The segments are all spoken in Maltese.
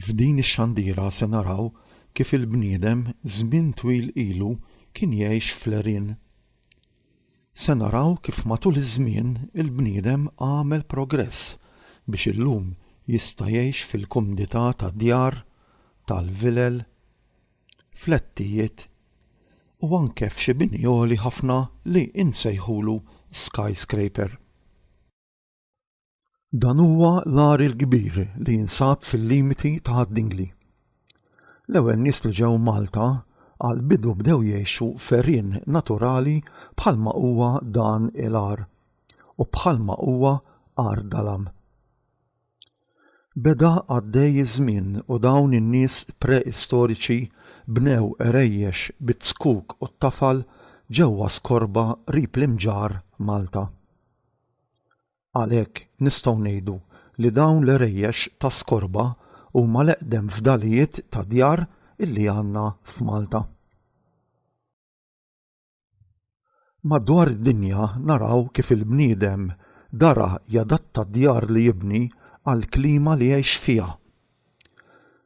F'din ix-xandira se naraw kif il-bniedem żmien twil ilu kien jgħix fl-għerien. Se naraw kif matul iż-żmien il-bniedem għamel progress biex illum jista' jgħix fil-kumdità ta' djar, tal-vilel, flettijiet u anke f'xi bini għoli ħafna li insejħulu skyscraper. Dan huwa l-agħar il-kbir li jinsab fil-limiti ta' Għad-Dingli. L-ewwel nies li ġew Malta għall-bidu bdew jgħixu f'għerien naturali bħalma huwa dan il-għar u bħalma huwa Għar Dalam. Beda għaddej iż-żmien u dawn in-nies pre-istoriċi bnew għerejjex bit-zkuk u t-tafal ġewwa skorba qrib l-imġarr Malta. Għalhekk, nistgħu ngħidu li dawn l-għerejjex ta' skorba huma l-eqdem fdalijiet ta' djar li għandna f'Malta. Madwar id-dinja naraw kif il-bniedem dara jadatta d-djar li jibni għall-klima li jgħix fiha.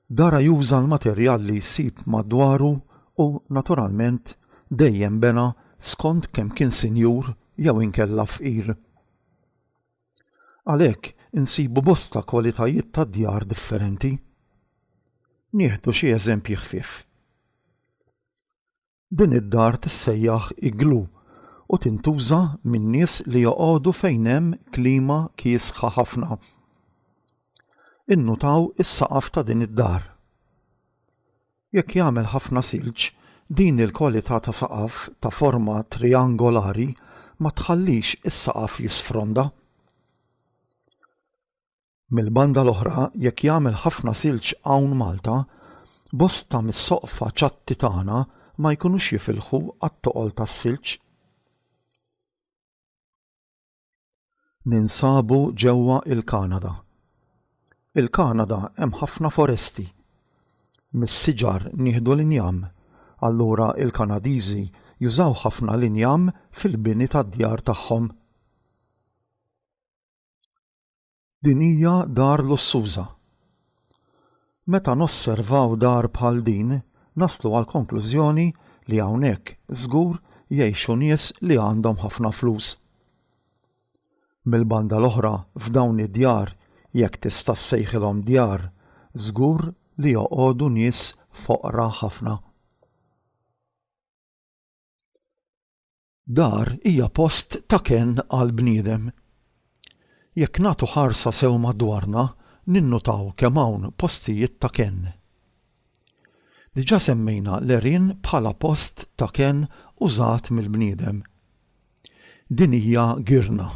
Dara juża l-materjal li jsib madwaru u naturalment dejjem bena skont kemm kien sinjur jew inkella fqir. Għalhekk insibu bosta kwalitajiet ta' djar differenti. Nieħdu xi eżempji ħfief. Din id-dar tissejjaħ iglu u tintuża min-nies li joqogħdu fejn hemm klima kiesħa ħafna. Innutaw is-saqaf ta' din id-dar. Jekk jagħmel ħafna silġ, din il-kwalità ta' saqaf ta' forma trijangolari ma tħallix is-saqaf jisfronda. Mill-banda l-oħra, jekk jagħmel ħafna silġ hawn Malta, bosta mis-soqfa ċatti tagħna ma jkunux jifilħu għat-toqol tas-silġ. Ninsabu ġewwa il-Kanada. Il-Kanada hemm ħafna foresti. Mis-siġar nieħdu l-injam. Allura il-Kanadiżi jużaw ħafna l-injam fil-bini tad-djar tagħhom. Din hija dar lussuża. Meta nosservaw dar bħal din, naslu għall-konklużjoni li hawnhekk żgur jgħixu nies li għandhom ħafna flus. Mill-banda l-oħra f'dawn id-djar, jekk tista' ssejħilhom djar, żgur li joqogħdu nies foqra ħafna. Dar hija post ta' kenn għall-bniedem. Jekk nagħtu ħarsa sew madwarna ninnutaw kemm hawn postijiet ta' kenn. Diġà semmejna l-għerien bħala post ta' kenn użat mill-bniedem. Din hija girna.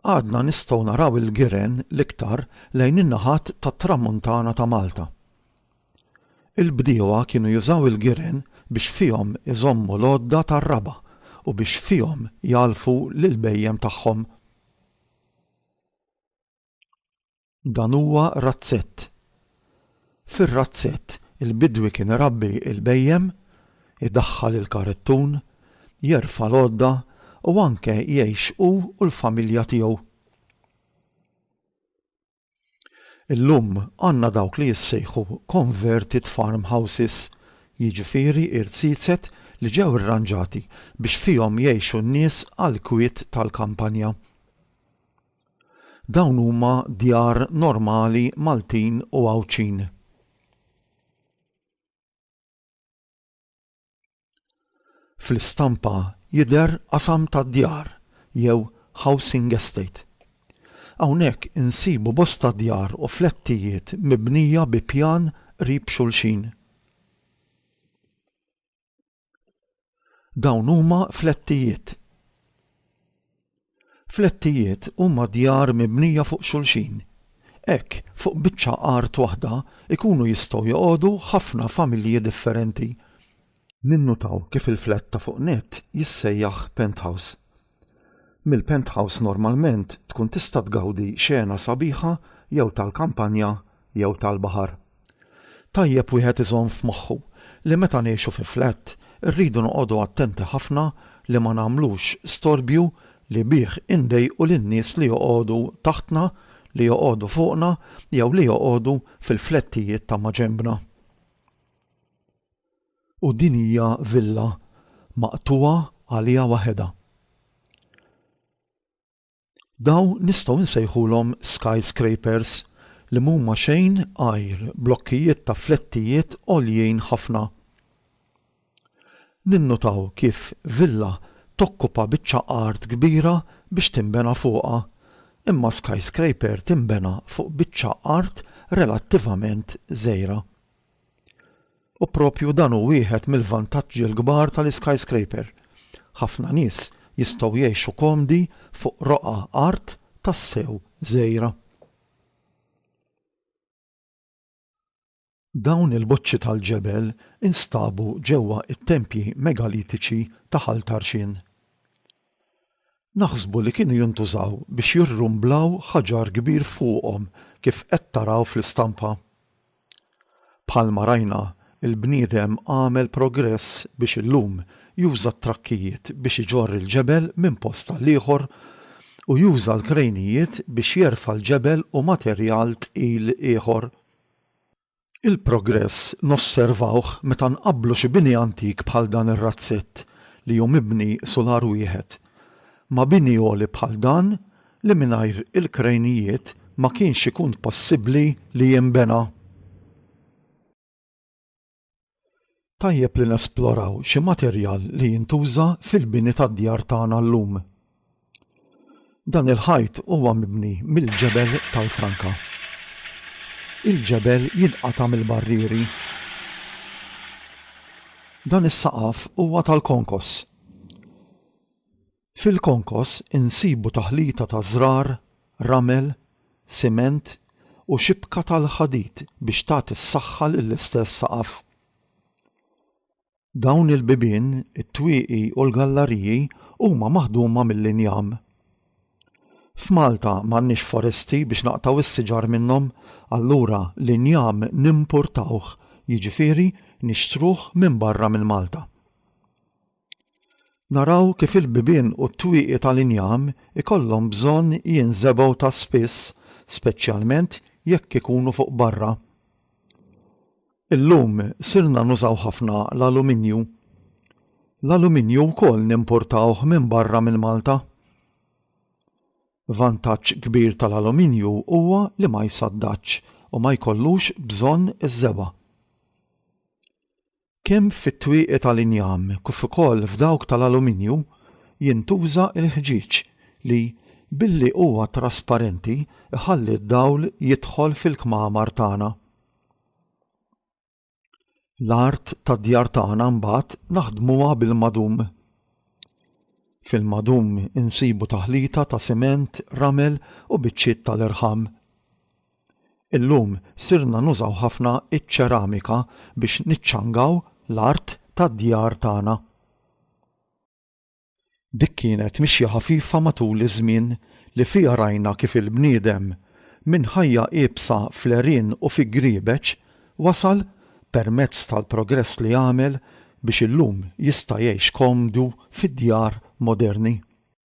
Għadna nistgħu naraw il-giren l-iktar lejn in-naħat tat-Tramuntana ta' Malta. Il-bdiewa kienu jużaw il-giren biex fihom iżommu l-għodda tar-raba' u biex fihom jgħallfu lill-bhejjem tagħhom. Dan huwa razzett. Fir-razzett il-bidwi kien irabbi l-bhejjem, idaħħal il-karettun, jerfa' l-għodda u anke jgħix hu u l-familja tiegħu. Illum għandna dawk li jissejħu converted farm houses, jiġifieri irziezet li ġew irranġati biex fihom jgħixu n-nies għall-kwiet tal-kampanja. Dawn huma djar normali Maltin u Għawdxin. Fl-istampa jidher qasam ta' djar jew housing estate. Hawnhekk insibu bosta djar u flettijiet mibnija bi pjan qrib xulxin. Dawn huma flettijiet. Flettijiet huma djar mibnija fuq xulxin. Hekk, fuq biċċa art waħda jkunu jistgħu joqogħdu ħafna familji differenti. Ninnutaw kif il-flett ta' fuq nett jissejjaħ penthouse. Mill-penthouse normalment tkun tista' tgawdi xena sabiħa jew tal-kampanja jew tal-baħar. Tajjeb wieħed iżomm f'moħħu li meta ngħixu fi flat irridu noqogħdu attenti ħafna li ma nagħmlux storbju li bih indejqu lin-nies li joqogħdu taħtna, li joqogħdu fuqna jew li joqogħdu fil-flettijiet ta' maġenbna. U din hija villa maqtugħa għaliha waħedha. Dawn nistgħu nsejħulhom skyscrapers li mhuma xejn għajr blokkijiet ta' flettijiet għoljin ħafna. Ninnutaw kif villa tokkupa biċċa art kbira biex tinbena fuqha, imma skyscraper tinbena fuq biċċa art relattivament żgħira. U proprju dan hu wieħed mill-vantaġġi l-kbar tal-iskyscraper. Ħafna nies jistgħu jgħixu komdi fuq roqgħa art tassew żgħira. Dawn il-boċċi tal-ġebel instabu ġewwa t-tempji megalitiċi ta' Ħal Tarxien. Naħsbu li kienu jintużaw biex jirrumblaw ħaġar kbir fuqhom kif qed taraw fl-istampa. Bħalma rajna, il-bniedem għamel progress biex illum juża t-trakkijiet biex iġorr il-ġebel minn post għal ieħor u juża l-krejnijiet biex jerfa' l-ġebel u materjal tqil ieħor. Il-progress nosservawh meta nqabblu xi bini antik bħal dan ir-razzett li hu mibni sular wieħed ma' bini għoli bħal dan li mingħajr il-krejnijiet ma kienx ikun possibbli li jinbena. Tajjeb li nesploraw xi materjal li jintuża fil-bini tad-djar tagħna llum. Dan il-ħajt huwa mibni mill-ġebel tal-franka. Il-ġebel jinqata' mill-barrieri. Dan is-saqaf huwa tal-konkos. Fil-konkos insibu taħlita ta' żrar, ramel, siment u xibka tal-ħadid biex tagħti s-saħħa lill-istess saqaf. Dawn il-bibien, it-twieqi u l-gallariji huma maħduma mill-injam. F'Malta m'għandniex foresti biex naqtgħu s-siġar minnhom, allura l-injam nimpurtawh, jiġifieri nixtruh minn barra minn Malta. Naraw kif il-bibien u t-twieqi tal-injam ikollhom bżonn jinżebgħu ta' spiss, speċjalment jekk ikunu fuq barra. Illum sirna nużaw ħafna l-aluminju. L-aluminju wkoll nimpurtawh minn barra minn Malta. Vantaġġ kbir tal-aluminju huwa li ma jsaddadx u ma jkollux bżonn iżżebgħa. Kemm fit-twieqi tal-injam kif ukoll f'dawk tal-aluminju jintuża l-ħġieġ li, billi huwa trasparenti, iħalli d-dawl jidħol fil-kmamar tagħna. L-art tad-djar tagħna mbagħad naħdmuha bil-madum. Fil-madum insibu taħlita ta' siment, ramel u biċċiet tal-irħam. Illum sirna nużaw ħafna ċ-ċeramika biex niċċangaw l-art tad-djar tagħna. Dik kienet mixja ħafifa matul iż-żmien li fiha rajna kif il-bniedem, minn ħajja iebsa fl-għerien u fi griebeġ, wasal, permezz tal-progress li għamel, biex illum jista' jgħix komdu fid-djar moderni.